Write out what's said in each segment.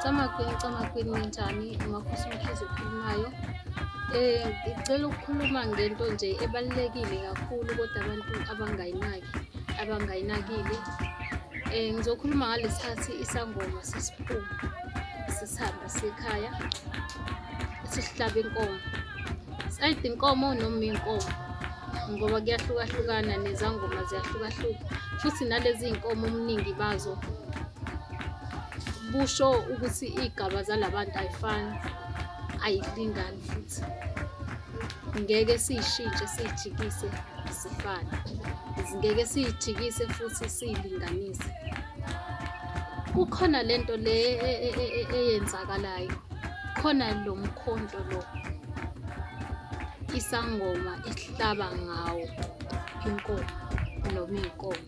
Camakwini, camakwini ninjani? Makhosi Mkhize okhulumayo. Eh, ngicela ukukhuluma ngento nje ebalulekile kakhulu kodwa abantu abangayinaki, abangayinakile. Eh, ngizokhuluma ngalesikhathi isangoma sesiphuma sisihamba sekhaya sihlaba inkomo. Sayide inkomo noma inkomo ngoba kuyahlukahlukana nezangoma ziyahlukahluka futhi nalezi iy'nkomo omningi bazo busho ukuthi iy'gaba zalabantu ayifani ayilingani futhi ngeke siyishintshe siyijikise zifane ngeke siyijikise futhi siyilinganise kukhona lento le e, e, e, eyenzakalayo khona lo mkhonto lo isangoma ihlaba ngawo inkomo noma iy'nkomo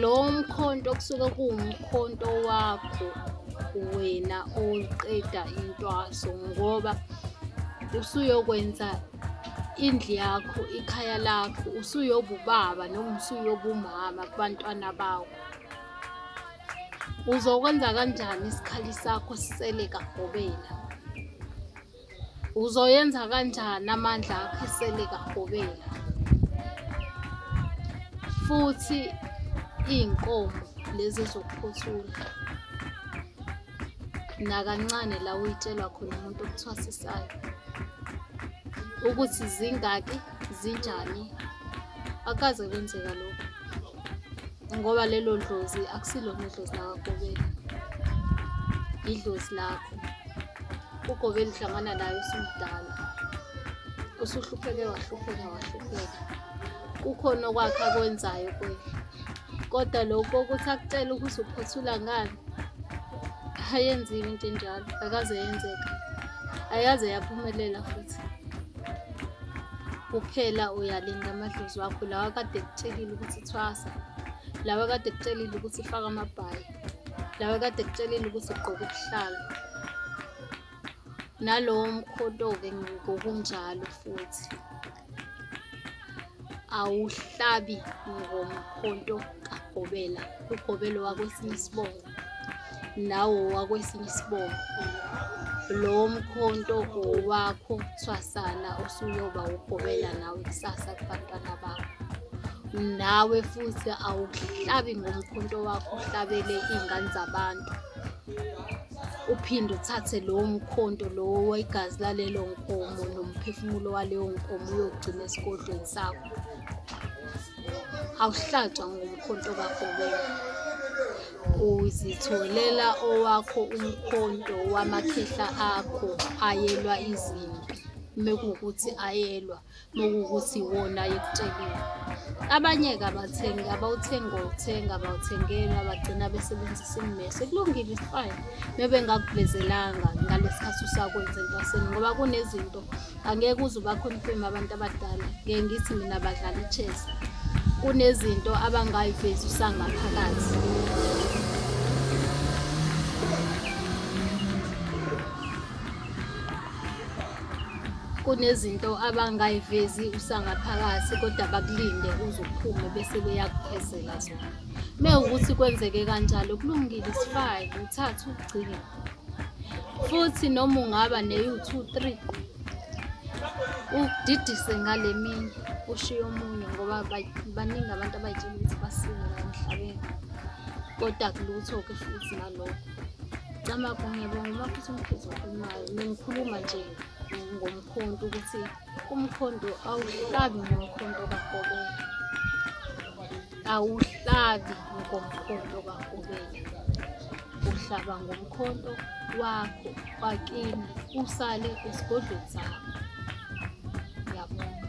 lo mkhonto kusuke kuwumkhonto wakho wena oqeda intwaso ngoba usuyokwenza indlu yakho ikhaya lakho usuyobubaba noma usuyobumama kubantwana bawo uzokwenza kanjani isikhali sakho sisele kagobela Uzoyenza kanjani amandla akho iseli kahobela? Futhi iy'nkomo lezi ezokuphothula nakancane la uyitshelwa khona umuntu okuthwasisayo ukuthi zingaki zinjani akaze kwenzeka lokho ngoba lelo dlozi akusilona idlozi lakakobela idlozi lakho ugobe lihlangana nayo usumdala usuhlupheke wahlupheka wahlupheka kukhona okwakhe akwenzayo kuye kodwa lokhu ukuthi akutshele ukuthi uphothula ngani ayenziwe into enjalo akaze yenzeka ayaze yaphumelela futhi kuphela uyalinda amadlozi wakho lawa kade kutshelile ukuthi thwasa lawa kade kutshelile ukuthi faka amabhayi lawa kade kutshelile ukuthi ugqoke ubuhlala nalowo mkhoto-ke ngokunjalo futhi awuhlabi ngomkhonto kagobela ugobelo wakwesinye isibongo nawo wakwesinye isibongo lowo mkhonto owakho thwasana osuyoba ugobela nawe kusasa kubantwana bakho nawe futhi awuhlabi ngomkhonto wakho uhlabele iy'ngane zabantu uphinde uthathe lowo mkhonto lowo wegazi lalelo nkomo nomphefumulo waleyo nkomo uyogcina esigodlweni sakho awuhlatshwa ngomkhonto kakho wena uzitholela owakho umkhonto wamakhehla akho ayelwa izimpi mekuwukuthi ayelwa lokukuthi wona yekutshelile abanye-ke abathengi abawuthengi ngokuthenga abawuthengeli abagcina besebenzisa ummese kulungile isifine mebe ngakuvezelanga ngalesi khathi usakwenza entwaseni ngoba kunezinto angeke uze ubakhonifime abantu abadala ngeke ngithi mina badlala i-chess kunezinto abangayivezi usangaphakathi kunezinto abangayivezi usangaphakathi kodwa bakulinde uzophume bese beyakuphezela zona me ukuthi kwenzeke kanjalo kulungile isifake uthathe ugcine futhi noma ungaba neyu-two three udidise ngale mini ushiye omunye ngoba baningi abantu abayitshela ukuthi basile emhlabeni kodwa kulutho-ke futhi nalokho Camagu ngiyabonga uma futhi umkhizi okhulumayo nengikhuluma nje ngomkhonto ukuthi umkhonto awuhlabi ngomkhonto kakobela awuhlabi ngomkhonto kakobela uhlaba ngomkhonto wakho wakini usale esigodlweni sakho ngiyabonga